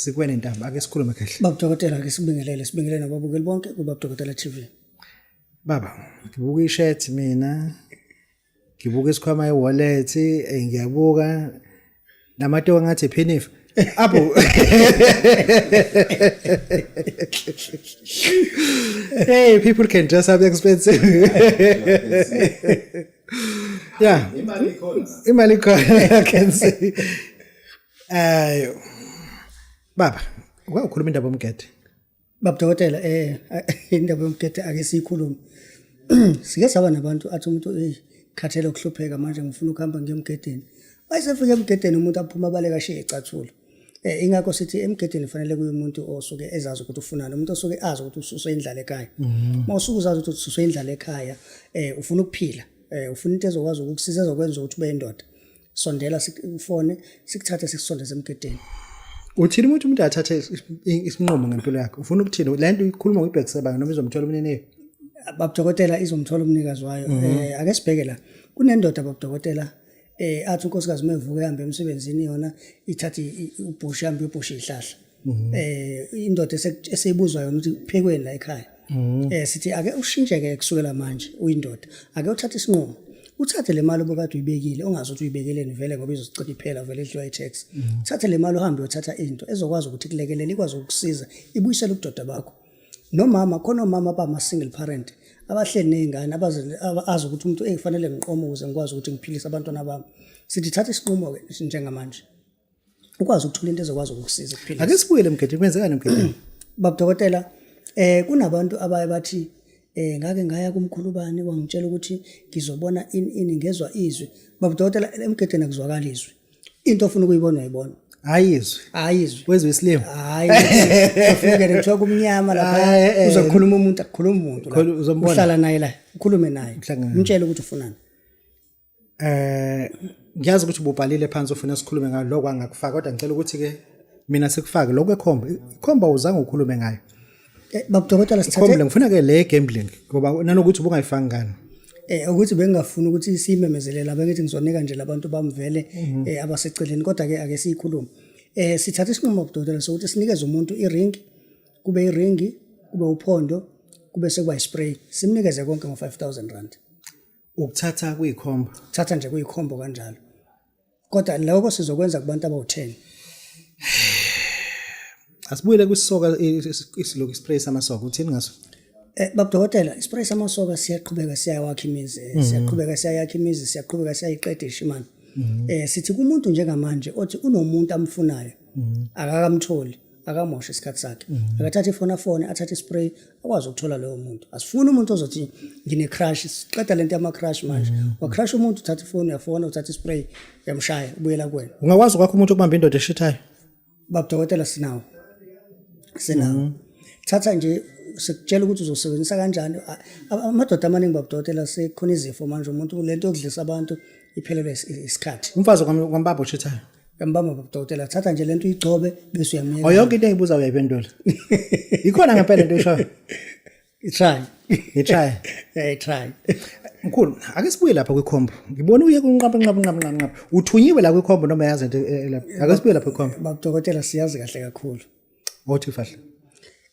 sikwene ntamba ake sikhulume kahle baba dokotela ake sibingelele sibingelele nababukeli bonke kubaba dokotela TV baba ngibuka ishirt mina ngibuka isikhwama e-wallet eh, ngiyabuka namatoka ngathi phenif apho hey people can dress up expensive yeah imali ikhona imali ikhona i can see ayo baba uyakhuluma indaba omgede Baba dokotela eh indaba yomgede ake siyikhulume. Sike saba nabantu athi umuntu eh khathele ukuhlupheka manje ngifuna ukuhamba ngiyomgedeni. Bayisefika emgedeni umuntu aphuma baleka shiye icathula. Eh ingakho sithi emgedeni kufanele kuye umuntu osuke ezazi ukuthi ufunani, umuntu osuke azi ukuthi ususwe indlala ekhaya. Mhm. Uma usuke uzazi ukuthi ususwe indlala ekhaya, eh ufuna ukuphila, eh ufuna into ezokwazi ukukusiza ezokwenza ukuthi ube indoda. sondela sikufone sikuthathe sikusondeze emgedeni uthini ukuthi umuntu athathe isinqumo ngempilo yakhe ufuna ukuthini le nto ikhuluma ngibhekisebanga noma izomthola umniniyo babudokotela izomthola umnikazi wayo um ake sibheke la kunendoda babudokotela um athi unkosikazi uma evuka ehambe emsebenzini yona ithathe ubhusha hambe uyobhusha iy'hlahla mhm. eh indoda eseyibuzwa yona ukuthi phekweni la ekhaya mhm. eh sithi ake ushintshe ke kusukela manje uyindoda ake uthathe isinqumo uthathe le mali obukade uyibekile ongazi ukuthi uyibekeleni vele ngoba izosiqeda iphela vele idliwa i-tax mhm. uthathe le mali uhambe uyothatha into ezokwazi ukuthi kulekelele ikwazi ukukusiza ibuyisele ubudoda bakho nomama khona omama abama-single parent abahleli ney'ngane abazi ukuthi umuntu eyifanele ngiqoma ukuze ngikwazi ukuthi ngiphilise abantwana bami sithi thatha isinqumo-ke njengamanje ukwazi ukuthola into ezokwazi ukukusiza kuphila ake sibuyele emgedeni kwenzekani emgedeni baba dokotela eh kunabantu abaye bathi eh ngake ngaya kumkhulubani wangitshela ukuthi ngizobona ini ini ngezwa izwi baba dokotela emgedeni akuzwakala izwi into ofuna ukuyibona uyibona ayizwe ayizwe wezwe isilima hayi ufike kuthiwa kumnyama lapha eh, eh. uzokhuluma umuntu akukhuluma umuntu uhlala naye la ukhulume naye umtshele ukuthi ufunani eh ngiyazi ukuthi ububhalile phansi ufuna sikhulume ngayo lokho angakufaka kodwa ngicela ukuthi ke mina sikufake lokho ekhomba ikhomba uzange ukhulume ngayo eh, babudokotela sithathe ikhomba ngifuna ke le gambling ngoba nanokuthi ubungayifanga ngani eh ukuthi bengingafuni ukuthi simemezelela bengithi ngizonika nje labantu bamvele mhm. eh abaseceleni kodwa ke ake siyikhulume eh sithatha isinqumo babudokotela sokuthi sinikeze umuntu iring kube iringi kube uphondo kube sekuba ispray simnikeze konke ngo 5000 rand ukuthatha kuyikhomba thatha nje kuyikhombo kanjalo kodwa lokho sizokwenza kubantu abawu-10 asibuyele kwisoka isiloku ispray samasoka uthini ngaso Eh babudokotela ispray samasoka siyaqhubeka siyawakha imizi eh, siyaqhubeka siyayakha imizi siyaqhubeka siyayiqeda ishimana eh sithi kumuntu njengamanje othi unomuntu amfunayo akakamtholi akamoshe isikhathi sakhe mhm. akathathe ifoni afone athathe ispray akwazi ukuthola loyo muntu asifuni umuntu ozothi ngine-crush siqeda le nto yama-crush manje mhm. wacrush umuntu uthatha ifoni uyafona uthatha ispray uyamshaya ubuyela kuwena ungakwazi ukwakho umuntu ukubamba indoda eshithayo babudokotela sinawo sinawo mhm. thatha nje sikutshela ukuthi uzosebenzisa kanjani amadoda amaningi babudokotela sekhona izifo manje umuntu le nto yokudlisa abantu iphelelwe isikhathi umfazi kwambaba oshithayo yambamba babudokotela thatha nje lento uyigcobe bese uyamyeka oh yonke into engibuza uyayiphendula ikhona ngempela into eshoyo itry itry yeah itry mkhulu ake sibuye lapha kwikhombo ngibona uye kunqaba nqaba nqaba nqaba nqaba uthunyiwe la kwikhombo noma yazi into eh, eh, lapha ake sibuye lapha kwikhombo babudokotela siyazi kahle kakhulu Othi fahla.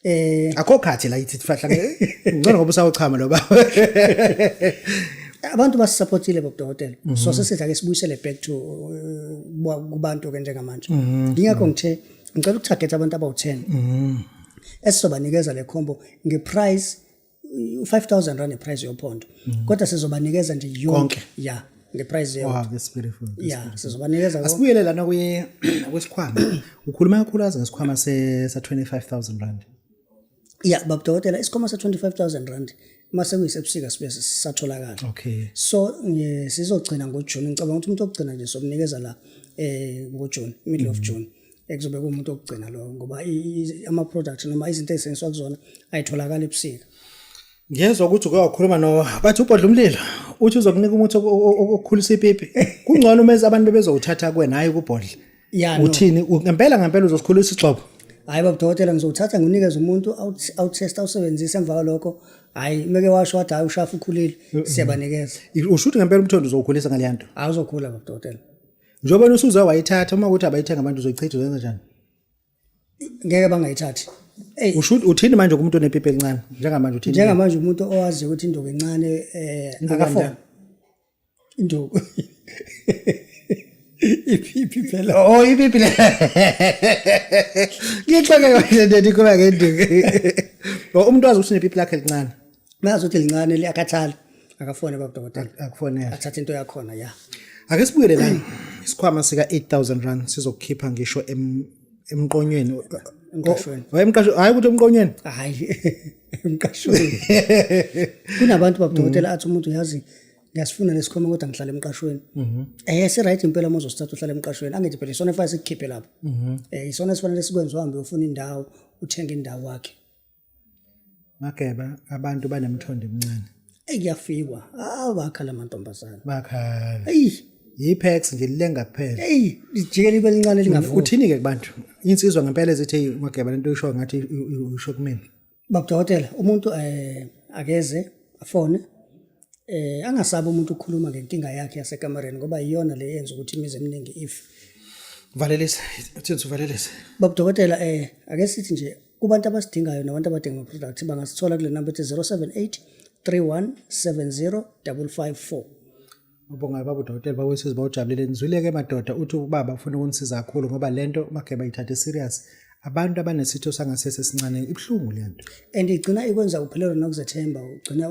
Eh akho khathi la ithi fahla ngcono ngoba usawuchama lo baba. Abantu basisupportile bobudokotela. Mhm. So sesidla ke sibuyisele back to uh, kubantu ke njengamanje. Mhm. Ngiyakho ngithe ngicela ukutarget abantu abawu10. Mhm. Esizobanikeza le combo ngeprice u-5000 rand iprice yophondo mhm. kodwa sizobanikeza nje yonke ya ngeprice ya sizobanikeza asibuyele lana kuye kwesikhwama ukhuluma kakhulu aze ngesikhwama sa-25000 rand ya babudokotela isikhwama sa-25000 rand uma sekuyisebusika sibe sisatholakala okay so sizogcina ngojuni ngicabanga ukuthi umuntu okugcina nje sokunikeza la um ngojuni middle of mhm. june ekuzobe kuwumuntu okugcina lowo ngoba ama-product noma izinto eziseniswa kuzona ayitholakali ebusika ngiyezwa ukuthi uke wakhuluma no bathi ubhodla umlilo uthi uzokunika umuthi okukhulisa ipipi kungcono uma abantu bebezowuthatha kuwena hhayi kubhodla uthini ngempela ngempela uzosikhulisa isigxobo hhayi babudokotela ngizowuthatha ngiwunikeze umuntu awuthesta awusebenzise emva kwalokho hayi meke washo wathi hayi ushafu ukhulile siyabanikeza usho ukuthi ngempela umthondo uzowukhulisa ngaleya nto awuzokhula babudokotela njengoba nusuza wayithatha uma ukuthi abayithenga abantu uzoyichitha uzenza njani ngeke bangayithathi Ey, usho ukuthi uthini manje kumuntu onepipi elincane njengamanje uthini njengamanje umuntu owazi ukuthi induku encane eh Induku akafona endala. induku iphiphi phela oh ipipi le ngixoke kanje nje nikhuluma ngenduku Oh, umuntu wazi ukuthi unepipi lakhe elincane Mayazi ukuthi lincane liyakhathala. Akafone baba dokotela. Akufonele. Athatha into yakhona ya. Ake sibuyele la. Isikhwama sika 8000 rand sizokukhipha ngisho em emqonyweni. Emqashweni. Hayi emqashweni, hayi ukuthi emqonyweni. Hayi. Emqashweni. Kunabantu baba dokotela athi umuntu yazi ngiyasifuna lesikhwama kodwa ngihlala emqashweni. Mhm. Eh si right impela uma uzosithatha uhlala emqashweni. Angithi phela isona efanele sikukhiphe lapho. Mhm. Eh isona esifanele sikwenze uhambe uyofuna indawo, uthenge indawo wakhe. Mageba abantu banemthondo emncane. Eyi kuyafikwa. Ah bakhala amantombazana. Bakhala. Eyi yipex nje lilenga kuphela. Eyi lijike libe lincane lingafuthi. Uthini ke kubantu? Insizwa ngempela ezithi mageba lento isho ngathi usho kumina. Babudokotela umuntu eh akeze afone eh angasabi umuntu ukukhuluma ngenkinga yakhe yasekamareni ngoba iyona le yenza ukuthi imizi eminingi if valelisa uthini uvalelisa babu dokotela eh ake sithi nje kubantu abasidingayo nabantu abadinga ama products bangasithola kule number ethi 078 3170554 Ubonga baba udokotela bawesizwe bawujabulile nizwileke madoda uthi ubaba ufuna ukunisiza kakhulu ngoba lento mageba ithathe serious abantu abanesitho sangasese sincane ibuhlungu lento and igcina ikwenza uphelelwa nokuzethemba ugcina